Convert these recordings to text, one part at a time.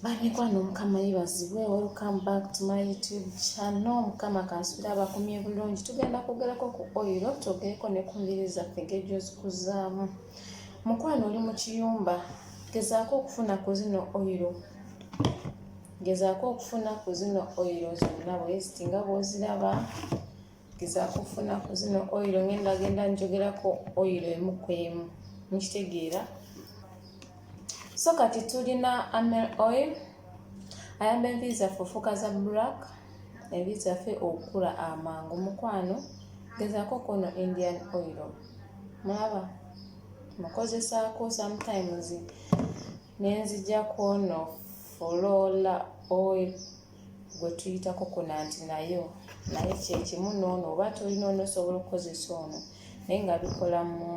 bamikwano mukama yebazibwe welcome back to my youtube channel mukama kansubira abakumye bulungi tugenda kwogerako ku oiro twogereko ne ku mbiri zaffe ngejozikuzaamu mukwano oli mu kiyumba gezaako okufuna ku zino oiro gezaako okufuna ku zino oiro zonna bweziti nga bwoziraba ngezaako okufuna ku zino oyiro ngenda genda njogerako oyiro emu ku emu mukitegeera so kati tulina amel oil ayamba enviiri zaffe ofuuka za black enviiri zaffe okukula amangu mukwano gezaako kuno indian oil mulaba mukozesaako sometimes nenzija kwono fulola oil gwe tuyitako kuna nti nayo naye kyekimu noono oba tolina onosobola okukozesa ono naye nga bikola mu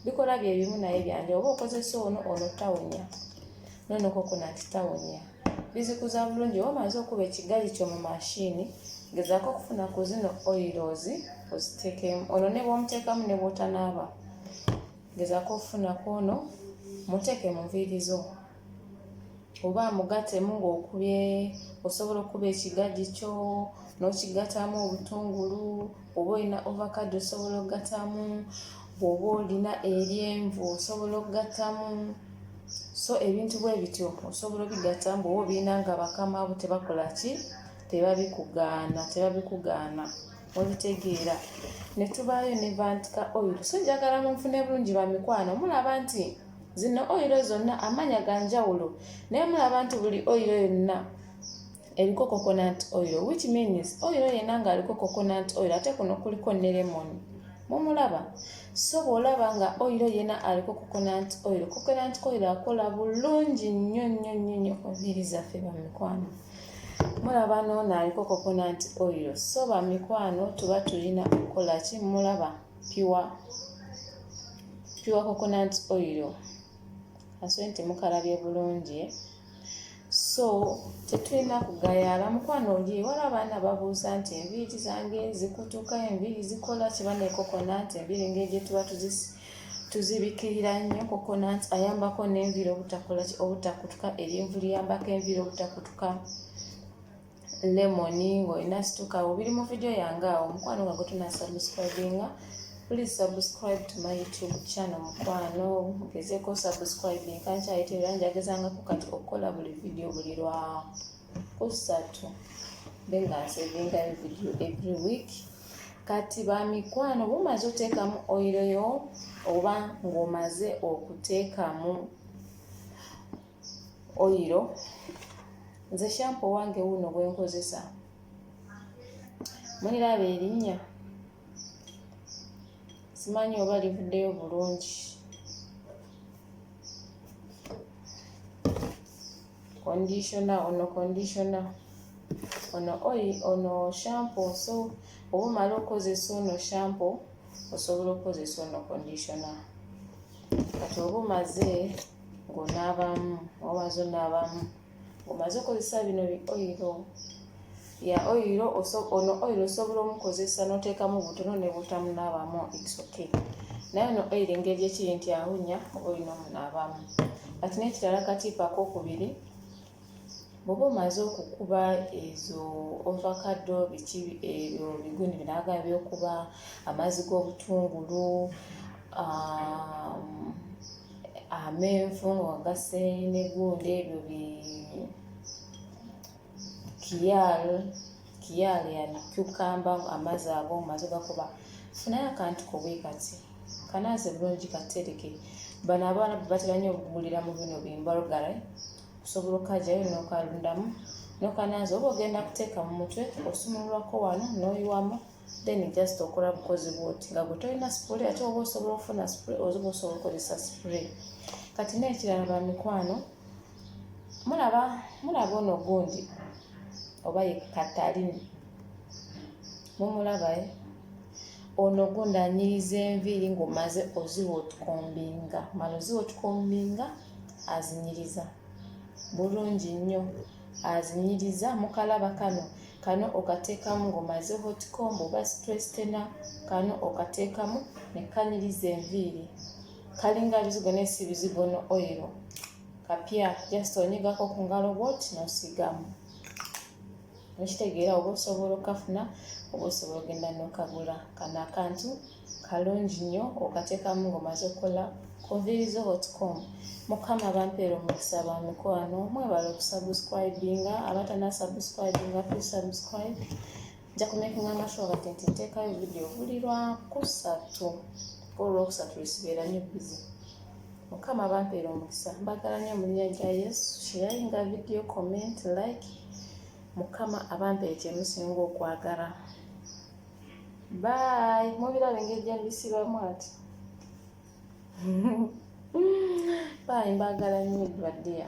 bikola byebimu naye byanja oba okozesa ono ono tawunya noonoko kuna nti tawunya bizikuza bulungi oba omaze okuba ekigali kyo mu mashini gezako okufuna ku zino oilos ozitekemu ono ne bwomuteekamu ne bwotanaaba gezako okufuna ku ono muteeke mu nviiri zo oba amugatemu ng'okubye osobola okukuba ekigagi kyo n'okigatamu obutungulu oba olina ovacado osobola okugatamu bw'oba olina eryenvu osobola okugatamu so ebintu bwe bityo osobola obigata mbuoba obirina nga bakama bo tebakola ki tebabikugaana tebabikugaana olitegeera ne tubaayo ne vantika oil so njagala munfune bulungi bamikwano mulaba nti zino oyiro zonna amanya ga njawulo naye mulaba nti buli oyiro yonna eriko coconut oil which means oil yena nga aliko coconut oil ate kuno kuliko ne lemon mumulaba so bwolaba nga oil yena aliko coconut oil coconut oil akola bulungi nnyo nnyo nnyo nnyo ku nviiri zaffe bamikwano mulaba noono aliko coconut oil so bamikwano tuba tulina okukola ki mulaba pure pure coconut oil asobola nti mukalabye bulungi so tetulina kugayaala mukwano oli wala abaana babuuza nti enviiri zange zikutuka enviiri zikola kiba ne coconut enviiri ngeri gyetuba tuzisi tuzibikirira nnyo coconut ayambako n'enviiri obutakutuka erinvu liyambako enviiri obutakutuka lemon ng'olina situka awo biri mu vidiyo yange awo mukwano nga gwetunasubscribinga please subscribe to my youtube channel mukwano gezeko subscribing kankyayita era njagezangako kati okukola buli vidiyo buli lwa kusatu be nga nsevingayo vidiyo every week kati bamikwano bumaze oteekamu oyiroyo oba ng'omaze okuteekamu oyiro nze shampo wange wuno gwenkozesa muliraba erinnya simanyi oba livuddeyo bulungi conditioner ono conditioner ono oyi ono shampo so oba omala okozesa ono shampo osobola okozesa ono conditioner kati oba omaze ng'onaabamu obaza onaabamu ng'omaze okozesa bino bi oyiro ya oyiro ono oyiro osobola omukozesa n'oteekamu butono ne butamunaabamu its okay naye ono oyiro engeri gyekiri nti awunya oba olina omunaabamu kati n'ekirala katiipu akokubiri bwoba omaze okukuba ezo ovakado biki ebyo biguni binaga byokuba amazzi g'obutungulu amenvu nga ogase negundi ebyo bi kiyal kiyal ya cucamba amazzi ago omaze gakuba funayo akantu kobwekati kanaze bulungi katereke bano abaana batera nnyo okugulira mu bino bimbalgare kusobola okajayo nokalundamu nokananza oba ogenda kuteeka mu mutwe osumululwako wano noyiwamu then just okola bukozi bwoti nga gwe tolina spray ate oba osobola okufuna spray oziba osobola okozesa spray kati nekirala bamikwano mulaba mulaba ono gundi oba ye katalini mumulabae eh? ono gundi anyiriza enviiri ngaomaze oziwa otukombinga mala oziwa otukombinga azinyiriza bulungi nnyo azinyiriza mukalaba kano kano okateekamu ng'omaze hotcomb oba strestena kano okateekamu ne kanyiriza enviiri kalinga bizigo naye si bizigo no oyiro kapya just onyigako ku ngalo bwoti nosigamu mukitegeera oba osobola okafuna oba osobola ogenda nokagula kano akantu kalungi nnyo okatekamu ngomaze okukola kunvirizo hotcom mukama bampeera omukisa ba mikwano mwebala okusubscribinga abatanasubscribinga psubscribe nja kumekinga amasho kati nti ntekayo vidiyo buli lwakusatu olwokusatu lisibeera nyo bizi mukama bampeera omukisa mbagala nyo mulinya gya yesu sharinga vidiyo comment like mukama abampeere kyemusinga okwagala bye mubiraba engeri gyembisibamu ati bye mbagala nyo baddeya